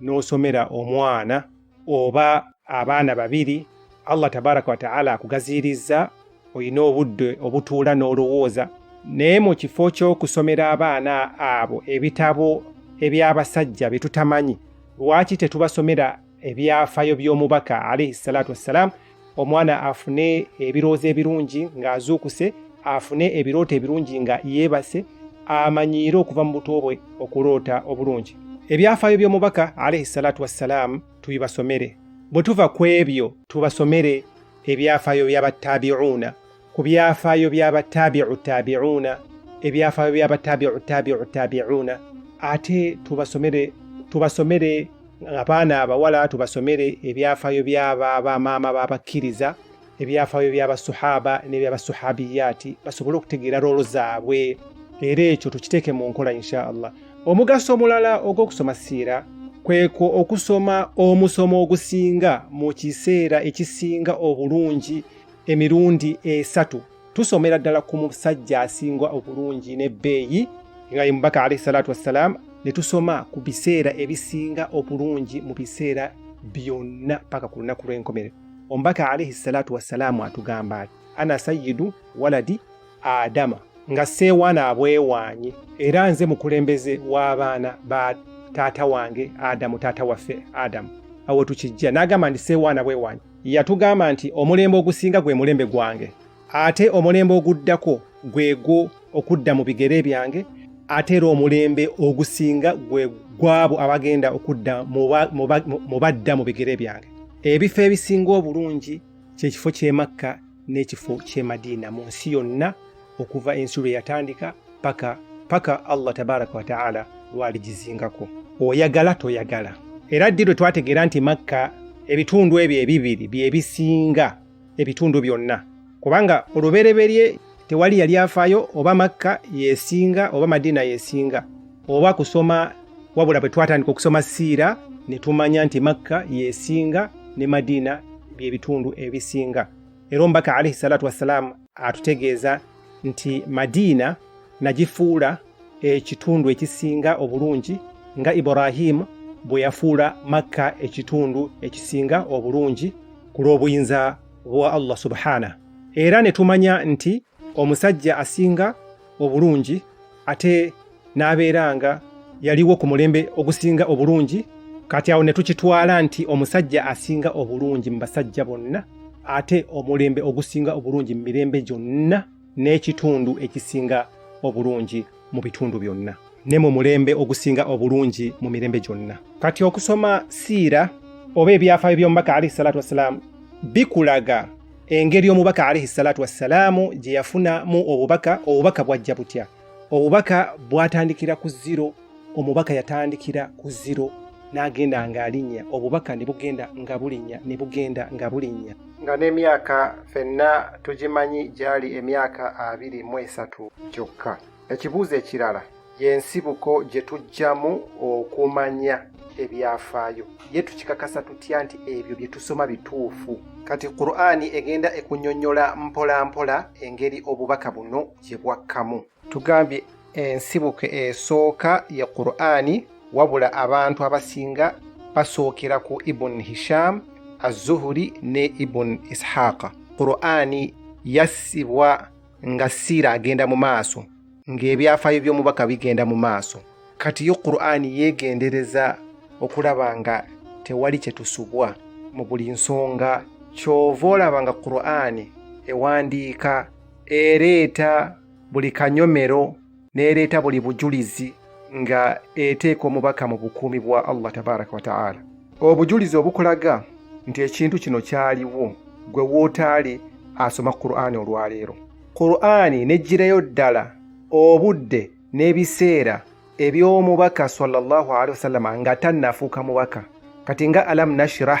n'osomera omwana oba abaana babiri allah tabaraka wataala akugaziirizza olina obudde obutuula n'olowooza naye mu kifo ky'okusomera abaana abo ebitabo eby'abasajja bye tutamanyi lwaki tetubasomera ebyafayo by'omubaka alaihi salatu wassalaamu omwana afune ebirowoozo ebirungi ng'azuukuse afune ebirooto ebirungi nga yeebase amanyiire okuva mu buto bwe okuloota obulungi ebyafaayo by'omubaka alaihi salatu wassalaamu tubibasomere bwe tuva ku ebyo tubasomere ebyafaayo by'abattabiuuna ku byafaayo by'abataabiu taabiuuna ebyafaayo by'abataabiu taabiu taabiuuna ate tubasomere tubasomere abaana abawala tubasomere ebyafaayo by'abamaama b'abakkiriza ebyafaayo by'abasuhaba n'ebyabasuhabiyaati basobole okutegeera roolo zaabwe era ekyo tukiteeke mu nkola insha allah omugaso omulala ogw'okusoma siira kwekwo okusoma omusomo ogusinga mu kiseera ekisinga obulungi emirundi esatu tusomera ddala ku musajja asinga obulungi n'ebbeeyi nga ye mubaka alaihi salatu wassalaamu ne tusoma ku biseera ebisinga obulungi mu biseera byonna paka ku lunaku lw'enkomerero omubaka alaihi salatu wassalaamu atugamba ati ana sayidu waladi adama nga seewaana abwewaanye era nze mukulembeze w'abaana ba taata wange adamu taata waffe adamu awo tukijja n'agamba nti seewaana bwewaanye yatugamba nti omulembe ogusinga gwe mulembe gwange ate omulembe oguddako gwegwo okudda mu bigere byange ate era omulembe ogusinga gwe gwabo abagenda okudda mu badda mu bigere byange ebifo ebisinga obulungi kyekifo ky'emakka n'ekifo ky'e Madiina mu nsi yonna okuva ensi lwe yatandika paka paka Allah tabaraka wa taala lwaligizingako oyagala toyagala era ddi lwe twategeera nti makka ebitundu ebyo ebibiri byebisinga ebitundu byonna kubanga olubereberye tewali yali afaayo oba makka yesinga oba madiina yesinga oba kusoma wabula bwe twatandika okusoma siira ne tumanya nti makka yesinga ne madiina bye bitundu ebisinga era omubaka alaihi salatu wassalaamu atutegeeza nti madiina nagifuula ekitundu ekisinga obulungi nga ibrahimu bwe yafuula makka ekitundu ekisinga obulungi ku lw'obuyinza bwa allah subhana era ne tumanya nti omusajja asinga obulungi ate n'abeera nga yaliwo ku mulembe ogusinga obulungi kati awo ne tukitwala nti omusajja asinga obulungi mu basajja bonna ate omulembe ogusinga obulungi mu mirembe gyonna n'ekitundu ekisinga obulungi mu bitundu byonna ne mu mulembe ogusinga obulungi mu mirembe gyonna kati okusoma siira oba ebyafaayo by'omubaka alaihi salatu wassalaamu bikulaga engeri omubaka alaihi salatu wassalaamu gye yafunamu obubaka obubaka bwajja butya obubaka bwatandikira ku ziro omubaka yatandikira ku ziro n'agenda ng'alinnya obubaka ne bugenda nga bulinnya ne bugenda nga bulinnya nga n'emyaka fenna tugimanyi gyali emyaka abiri mu esatu gyokka Ekibuuzo ekirala y'ensibuko gye tujjamu okumanya ebyafaayo ye tukikakasa tutya nti ebyo bye tusoma bituufu kati qur'ani egenda ekunyonyola mpolampola engeri obubaka buno gye bwakkamu tugambye ensibuko esooka ye qur'ani wabula abantu abasinga basookera ku ibun hisham azuhuri ne ibun ishaqa qur'ani yassibwa nga siira agenda mu maaso ng'ebyafaayo by'omubaka bigenda mu maaso kati yo qur'ani yeegendereza okulaba nga tewali kye tusubwa mu buli nsonga kyova olaba nga qur'ani ewandiika ereeta buli kanyomero n'ereeta buli bujulizi nga eteeka omubaka mu bukuumi bwa allah tabaraka wataala obujulizi obukulaga nti ekintu kino kyaliwo gwe wootaali asoma qur'ani olwaleero qur'ani nejjirayo ddala obudde n'ebiseera eby'omubaka sallallahu alehi wasallama nga tannafuuka mubaka kati nga alam nashirah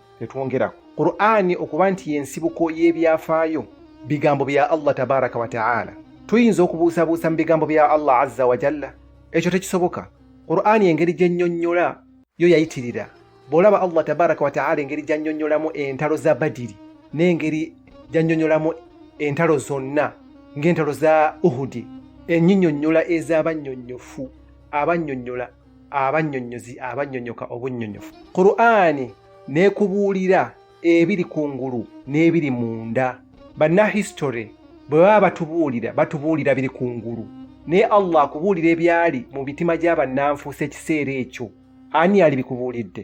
netwongerako qur'ani okuba nti yensibuko y'ebyafaayo bigambo bya allah tabaraka wataala tuyinza okubuusabuusa mu bigambo bya allah azza wajalla ekyo tekisoboka qur'ani engeri gyennyonnyola yo yayitirira bw'olaba allah tabaraka wataala engeri gyannyonnyolamu entalo za badiri n'engeri gyannyonnyolamu entalo zonna ng'entalo za uhudi enyinyonnyola ez'abannyonnyofu abannyonnyola abannyonnyozi abannyonnyoka obunnyonnyofu qur'ani n'ekubuulira ebiri ku ngulu n'ebiri munda bannahistory bwe baba batubuulira batubuulira biri ku ngulu naye allah akubuulira ebyali mu mitima gy'abannanfuusa ekiseera ekyo ani yali bikubuulidde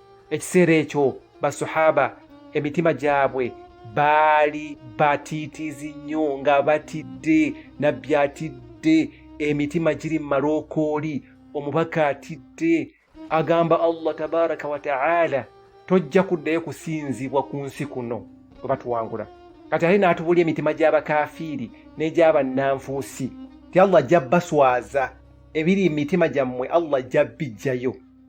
ekiseera ekyo basahaba emitima gyabwe baali batiitiizi nnyo nga batidde nabbi atidde emitima giri mu malookooli omubaka atidde agamba allah tabaraka wataala tojja kuddayo kusinzibwa ku nsi kuno bwe batuwangula kati ate n'atubuli emitima gy'abakafiiri n'egyabannanfuusi ti allah ajja baswaza ebiri mu mitima gyammwe allah ajja bijjayo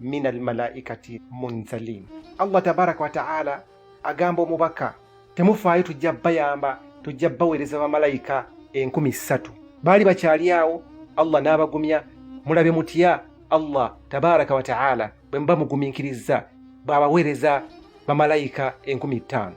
min almalaikati munzalin allah tabaraka wataala agamba omubaka temufaayo tujja bayamba tujja baweereza bamalayika enkumi ssatu baali bakyali awo allah n'abagumya mulabe mutya allah tabaraka wataala bwe muba mugumiikiriza bw'abaweereza bamalayika enkumi ttaano